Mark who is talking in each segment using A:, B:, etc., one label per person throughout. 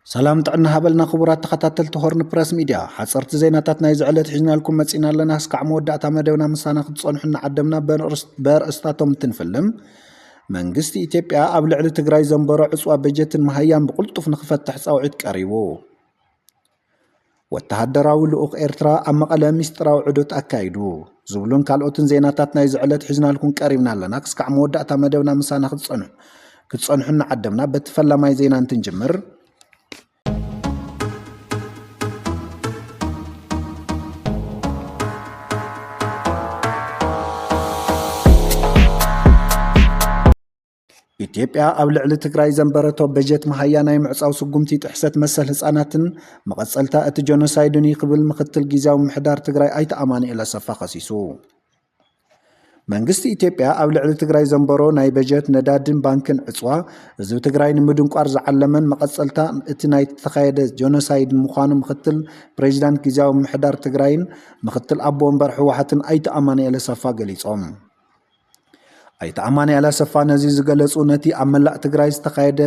A: ሰላም ጥዕና ሃበልና ክቡራት ተኸታተልቲ ሆርን ፕረስ ሚድያ ሓፀርቲ ዜናታት ናይ ዝዕለት ሒዝናልኩም መፂና ኣለና እስካዕ መወዳእታ መደብና ምሳና ክትፀንሑ እናዓደምና በርእስታቶም እንትንፍልም መንግስቲ ኢትዮጵያ ኣብ ልዕሊ ትግራይ ዘንበሮ ዕፅዋ በጀትን መሃያን ብቕልጡፍ ንክፈትሕ ፃውዒት ቀሪቡ ወተሃደራዊ ልኡኽ ኤርትራ ኣብ መቐለ ሚስጥራዊ ዑደት ኣካይዱ ዝብሉን ካልኦትን ዜናታት ናይዚ ዕለት ሒዝናልኩም ቀሪብና ኣለና። ክስካዕ መወዳእታ መደብና ምሳና ክትጸንሑ ክትጸንሑ እናዓደምና በቲ ፈላማይ ዜና እንትንጅምር ኢትዮጵያ ኣብ ልዕሊ ትግራይ ዘንበረቶ በጀት መሃያ ናይ ምዕፃው ስጉምቲ ጥሕሰት መሰል ህፃናትን መቐፀልታ እቲ ጀኖሳይድን እዩ ክብል ምክትል ጊዜያዊ ምሕዳር ትግራይ ኣይተ ኣማኑኤል ኣሰፋ ከሲሱ። መንግስቲ ኢትዮጵያ ኣብ ልዕሊ ትግራይ ዘንበሮ ናይ በጀት ነዳድን ባንክን ዕፅዋ ህዝቢ ትግራይ ንምድንቋር ዝዓለመን መቐፀልታ እቲ ናይ ተኻየደ ጀኖሳይድ ምዃኑ ምክትል ፕሬዚዳንት ጊዜያዊ ምሕዳር ትግራይን ምክትል ኣቦ ወንበር ህወሓትን ኣይተ ኣማኑኤል ኣሰፋ ገሊፆም። ኣይተ ኣማንኤል ኣሰፋ ነዚ ዝገለፁ ነቲ ኣብ መላእ ትግራይ ዝተኻየደ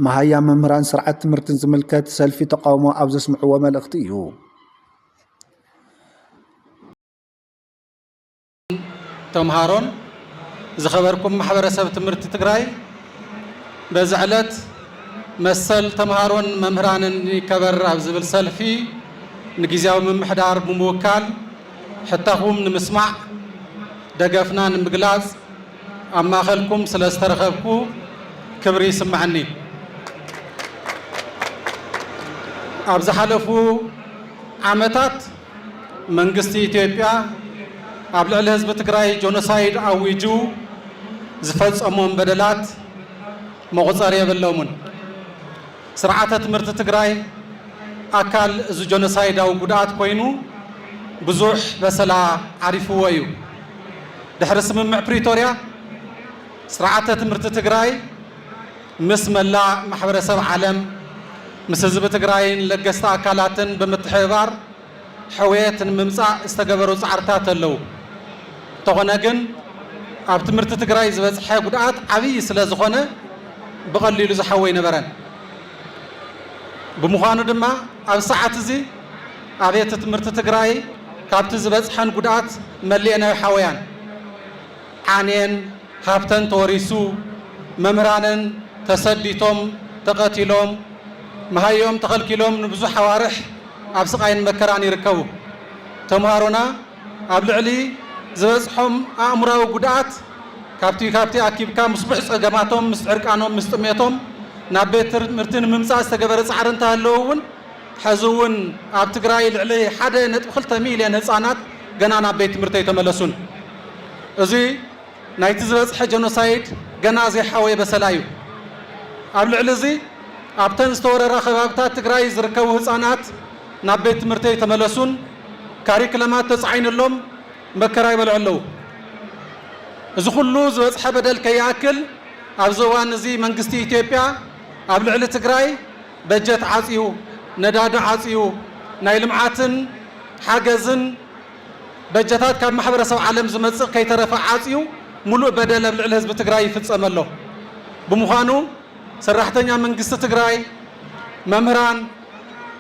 A: መሃያ መምህራን ስርዓት ትምህርትን ዝምልከት ሰልፊ ተቃውሞ ኣብ ዘስምዕዎ መልእኽቲ እዩ።
B: ተምሃሮን ዝኸበርኩም ማሕበረሰብ ትምህርቲ ትግራይ በዚ ዕለት መሰል ተምሃሮን መምህራንን ይከበር ኣብ ዝብል ሰልፊ ንግዜያዊ ምምሕዳር ብምውካል ሕታኹም ንምስማዕ ደገፍና ንምግላጽ ኣብ ማእኸልኩም ስለ ዝተረኸብኩ ክብሪ ይስመዐኒ። ኣብ ዝሓለፉ ዓመታት መንግስቲ ኢትዮጵያ ኣብ ልዕሊ ህዝቢ ትግራይ ጆኖሳይድ ኣዊጁ ዝፈፀሞም በደላት መቑፀሪ የብሎምን። ስርዓተ ትምህርቲ ትግራይ ኣካል እዚ ጆኖሳይዳዊ ጉድኣት ኮይኑ ብዙሕ በሰላ ዓሪፍዎ እዩ። ድሕሪ ስምምዕ ፕሪቶርያ ስርዓተ ትምህርቲ ትግራይ ምስ መላእ ማሕበረሰብ ዓለም፣ ምስ ህዝቢ ትግራይን ለገስቲ ኣካላትን ብምትሕብባር፣ ሕውየት ንምምፃእ ዝተገበሩ ፃዕርታት ኣለዉ። እንተኾነ ግን ኣብ ትምህርቲ ትግራይ ዝበፅሐ ጉድኣት ዓብዪ ስለዝኾነ ብቐሊሉ ዝሓዊ ኣይነበረን። ብምዃኑ ድማ ኣብዚ ሰዓት እዚ ኣብየተ ትምህርቲ ትግራይ ካብቲ ዝበፅሐን ጉድኣት መሊኤን ኣይሓወያን። ዓንየን፣ ሃብተን ተወሪሱ፣ መምህራነን ተሰዲቶም፣ ተቐቲሎም፣ መሃይኦም ተኸልኪሎም ንብዙሕ ኣዋርሕ፣ ኣብ ስቓይን መከራን ይርከቡ። ተምሃሮና ኣብ ልዕሊ ዝበጽሖም ኣእምሮኣዊ ጉድኣት ካብቲ ካብቲ ኣኪብካ ምስ ቡሕ ጸገማቶም ምስ ዕርቃኖም ምስ ጥሜቶም ናብ ቤት ትምህርቲ ንምምጻእ ዝተገበረ ጻዕሪ እንተሃለወ እውን ሐዚ እውን ኣብ ትግራይ ልዕሊ ሓደ ነጥቢ ክልተ ሚልዮን ህጻናት ገና ናብ ቤት ትምህርቲ ኣይተመለሱን። እዚ ናይቲ ዝበጽሐ ጀኖሳይድ ገና ዘይሓወየ በሰላ እዩ። ኣብ ልዕሊ እዚ ኣብተን ዝተወረራ ከባብታት ትግራይ ዝርከቡ ህጻናት ናብ ቤት ትምህርቲ ኣይተመለሱን፣ ካሪክለማት ተጻዒኑሎም መከራ ይበልዑ ኣለዉ። እዚ ኩሉ ዝበጽሐ በደል ከይኣክል ኣብዚ እዋን እዚ መንግስቲ ኢትዮጵያ ኣብ ልዕሊ ትግራይ በጀት ዓጽዩ፣ ነዳዲ ዓጽዩ፣ ናይ ልምዓትን ሓገዝን፣ በጀታት ካብ ማሕበረሰብ ዓለም ዝመፅእ ከይተረፈ ዓፅዩ ሙሉእ በደል ኣብ ልዕሊ ህዝቢ ትግራይ ይፍፀም ኣሎ። ብምዃኑ ሰራሕተኛ መንግስቲ ትግራይ፣ መምህራን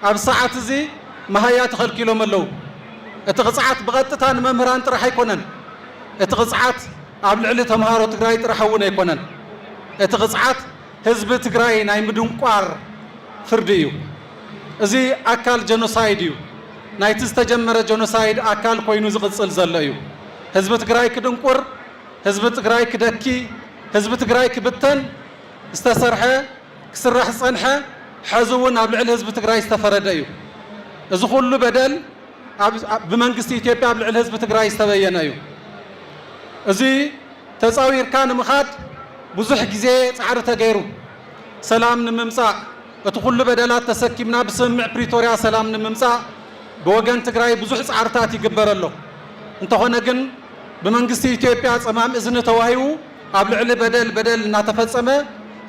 B: ኣብዚ ሰዓት እዚ መሃያ ተኸልኪሎም ኣለው። እቲ ቕፅዓት ብቐጥታ ንመምህራን ጥራሕ ኣይኮነን። እቲ ቕፅዓት ኣብ ልዕሊ ተምሃሮ ትግራይ ጥራሕ እውን ኣይኮነን። እቲ ቕፅዓት። ህዝቢ ትግራይ ናይ ምድንቋር ፍርዲ እዩ። እዚ ኣካል ጀኖሳይድ እዩ። ናይቲ ዝተጀመረ ጀኖሳይድ ኣካል ኮይኑ ዝቕፅል ዘሎ እዩ። ህዝቢ ትግራይ ክድንቁር፣ ህዝቢ ትግራይ ክደኪ፣ ህዝቢ ትግራይ ክብተን ዝተሰርሐ፣ ክስራሕ ዝፀንሐ፣ ሐዚ እውን ኣብ ልዕሊ ህዝቢ ትግራይ ዝተፈረደ እዩ። እዚ ኩሉ በደል ብመንግስቲ ኢትዮጵያ ኣብ ልዕሊ ህዝቢ ትግራይ ዝተበየነ እዩ። እዚ ተጻዊርካ ንምኻድ ብዙሕ ግዜ ጻዕሪ ተገይሩ። ሰላም ንምምጻእ፣ እቲ ኩሉ በደላት ተሰኪምና ብስምምዕ ፕሪቶርያ ሰላም ንምምጻእ ብወገን ትግራይ ብዙሕ ጻዕርታት ይግበር ኣሎ። እንተኾነ ግን ብመንግስቲ ኢትዮጵያ ጸማም እዝኒ ተዋሂቡ ኣብ ልዕሊ በደል በደል እናተፈጸመ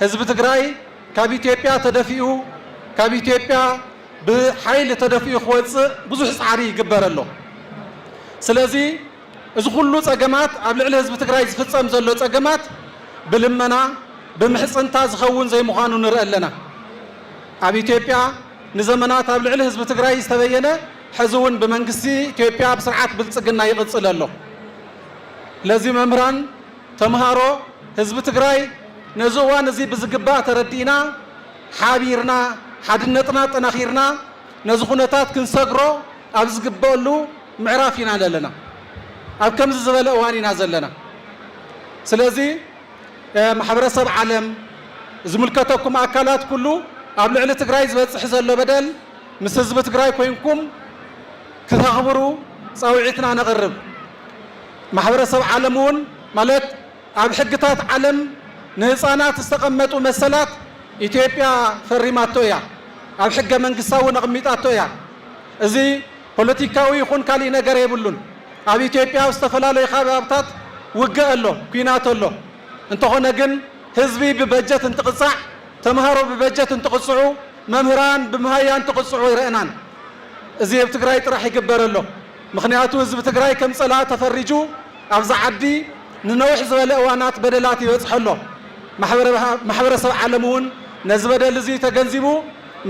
B: ህዝቢ ትግራይ ካብ ኢትዮጵያ ተደፊኡ ካብ ኢትዮጵያ ብሓይሊ ተደፊኡ ክወጽእ ብዙሕ ጻዕሪ ይግበር ኣሎ። ስለዚ እዚ ኩሉ ፀገማት ኣብ ልዕሊ ህዝቢ ትግራይ ዝፍፀም ዘሎ ፀገማት ብልመና ብምሕፅንታ ዝኸውን ዘይምዃኑ ንርኢ ኣለና። ኣብ ኢትዮጵያ ንዘመናት ኣብ ልዕሊ ህዝቢ ትግራይ ዝተበየነ ሕዚ እውን ብመንግስቲ ኢትዮጵያ ኣብ ስርዓት ብልፅግና ይቕፅል ኣሎ። ለዚ መምህራን፣ ተምሃሮ፣ ህዝቢ ትግራይ ነዚ እዋን እዚ ብዝግባእ ተረዲእና ሓቢርና ሓድነትና ኣጠናኺርና ነዚ ኩነታት ክንሰግሮ ኣብ ዝግበእሉ ምዕራፍ ኢና ለለና ኣብ ከምዚ ዝበለ እዋን ኢና ዘለና ስለዚ ማሕበረሰብ ዓለም ዝምልከተኩም ኣካላት ኩሉ ኣብ ልዕሊ ትግራይ ዝበፅሕ ዘሎ በደል ምስ ህዝቢ ትግራይ ኮይንኩም ክተኽብሩ ፃውዒትና ነቕርብ ማሕበረሰብ ዓለም እውን ማለት ኣብ ሕግታት ዓለም ንህፃናት ዝተቐመጡ መሰላት ኢትዮጵያ ፈሪማቶ እያ ኣብ ሕገ መንግስታ እውን ኣቕሚጣቶ እያ እዚ ፖለቲካዊ ይኹን ካሊእ ነገር የብሉን። ኣብ ኢትዮጵያ ኣብ ዝተፈላለዩ ካባብታት ውግእ ኣሎ፣ ኩናት ኣሎ። እንተኾነ ግን ህዝቢ ብበጀት እንትቕፃዕ፣ ተምሃሮ ብበጀት እንትቕፅዑ፣ መምህራን ብመሃያ እንትቕፅዑ ኣይረእናን። እዚ ኣብ ትግራይ ጥራሕ ይግበር ኣሎ። ምኽንያቱ ህዝቢ ትግራይ ከም ፀላኢ ተፈሪጁ ኣብዚ ዓዲ ንነዊሕ ዝበለ እዋናት በደላት ይበፅሖ ኣሎ። ማሕበረሰብ ዓለም እውን ነዚ በደል እዙይ ተገንዚቡ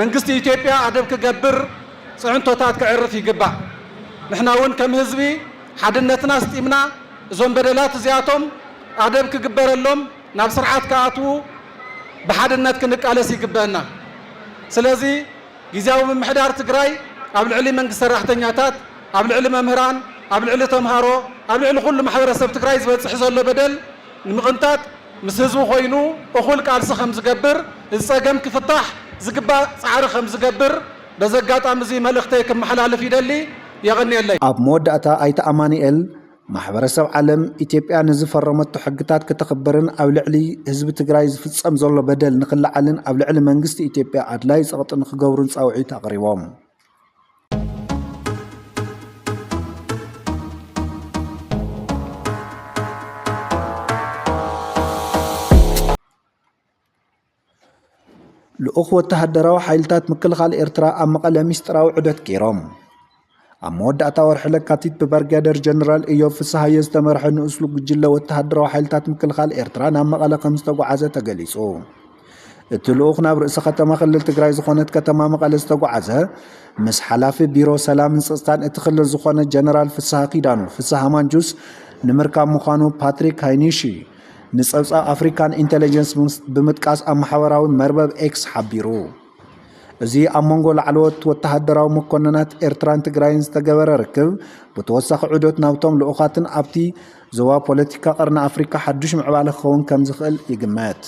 B: መንግስቲ ኢትዮጵያ ኣደብ ክገብር፣ ፅዕንቶታት ከዕርፍ ይግባእ። ንሕና እውን ከም ህዝቢ ሓድነትና ኣስጢምና እዞም በደላት እዚኣቶም ኣደብ ክግበረሎም ናብ ስርዓት ክኣትዉ ብሓድነት ክንቃለስ ይግበእና። ስለዚ ጊዚያዊ ምምሕዳር ትግራይ ኣብ ልዕሊ መንግስቲ ሰራሕተኛታት፣ ኣብ ልዕሊ መምህራን፣ ኣብ ልዕሊ ተምሃሮ፣ ኣብ ልዕሊ ኩሉ ማሕበረሰብ ትግራይ ዝበፅሕ ዘሎ በደል ንምቕንጣጥ ምስ ህዝቡ ኮይኑ እኹል ቃልሲ ከምዝገብር፣ እዚ ፀገም ክፍታሕ ዝግባእ ፃዕሪ ከምዝገብር፣ በዚ ኣጋጣሚ እዚ መልእኽተይ ክመሓላልፍ ይደሊ። የቐንየለይ። ኣብ መወዳእታ
A: ኣይተ ኣማኑኤል፣ ማሕበረሰብ ዓለም ኢትዮጵያ ንዝፈረመቶ ሕግታት ክተኽብርን ኣብ ልዕሊ ህዝቢ ትግራይ ዝፍፀም ዘሎ በደል ንክለዓልን ኣብ ልዕሊ መንግስቲ ኢትዮጵያ ኣድላዪ ፀቕጢ ንክገብሩን ፃውዒት ኣቕሪቦም። ልኡኽ ወተሃደራዊ ሓይልታት ምክልኻል ኤርትራ ኣብ መቐለ ሚስጥራዊ ዑደት ገይሮም። ኣብ መወዳእታ ወርሒ ለካቲት ብበርጋደር ጀነራል እዮብ ፍስሃየ ዝተመርሐ ንኡስ ጉጅለ ወተሃደራዊ ሓይልታት ምክልኻል ኤርትራ ናብ መቐለ ከም ዝተጓዓዘ ተገሊጹ። እቲ ልኡኽ ናብ ርእሰ ከተማ ክልል ትግራይ ዝኾነት ከተማ መቐለ ዝተጓዓዘ ምስ ሓላፊ ቢሮ ሰላምን ፀፅታን እቲ ክልል ዝኾነ ጀነራል ፍስሃ ኪዳኑ ፍስሃ ማንጁስ ንምርካብ ምዃኑ ፓትሪክ ሃይኒሺ ንጸብጻብ ኣፍሪካን ኢንተለጀንስ ብምጥቃስ ኣብ ማሕበራዊ መርበብ ኤክስ ሓቢሩ። እዚ ኣብ መንጎ ላዕለዎት ወተሃደራዊ መኮንናት ኤርትራን ትግራይን ዝተገበረ ርክብ ብተወሳኺ ዑደት ናብቶም ልኡኻትን ኣብቲ ዞባ ፖለቲካ ቀርኒ ኣፍሪካ ሓዱሽ ምዕባለ ክኸውን ከም ዝኽእል ይግመት።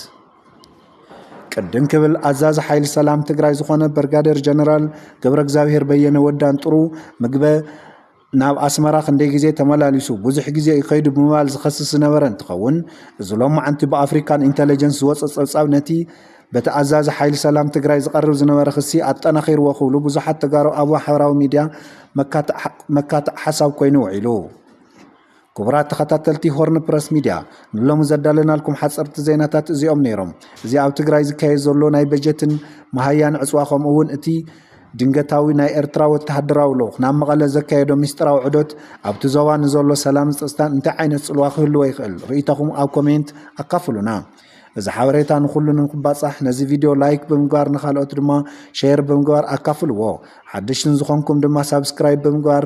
A: ቅድም ክብል ኣዛዚ ሓይሊ ሰላም ትግራይ ዝኾነ በርጋደር ጀነራል ገብረ እግዚኣብሄር በየነ ወዳን ጥሩ ምግበ ናብ ኣስመራ ክንደይ ግዜ ተመላሊሱ ብዙሕ ግዜ እዩ ከይዱ ብምባል ዝኸስስ ዝነበረ እንትኸውን፣ እዚ ሎማዕንቲ ብኣፍሪካን ኢንተለጀንስ ዝወፀ ፀብፃብ ነቲ በቲ ኣዛዚ ሓይሊ ሰላም ትግራይ ዝቐርብ ዝነበረ ክሲ ኣጠናኺርዎ ክብሉ ብዙሓት ተጋሩ ኣብ ማሕበራዊ ሚዲያ መካትዕ ሓሳብ ኮይኑ ውዒሉ። ክቡራት ተኸታተልቲ ሆርን ፕረስ ሚድያ ንሎሚ ዘዳለናልኩም ሓፀርቲ ዜናታት እዚኦም ነይሮም። እዚ ኣብ ትግራይ ዝካየድ ዘሎ ናይ በጀትን መሃያን ዕፅዋ ከምኡ እውን እቲ ድንገታዊ ናይ ኤርትራ ወተሃደራዊ ልኡኽ ናብ መቐለ ዘካየዶ ሚስጥራዊ ዑደት ኣብቲ ዞባ ንዘሎ ሰላምን ፀፅታን እንታይ ዓይነት ፅልዋ ክህልዎ ይኽእል? ርእይቶኹም ኣብ ኮሜንት ኣካፍሉና። እዚ ሓበሬታ ንኹሉ ንክባፃሕ ነዚ ቪድዮ ላይክ ብምግባር ንካልኦት ድማ ሼር ብምግባር ኣካፍልዎ። ሓደሽቲ ዝኾንኩም ድማ ሳብስክራይብ ብምግባር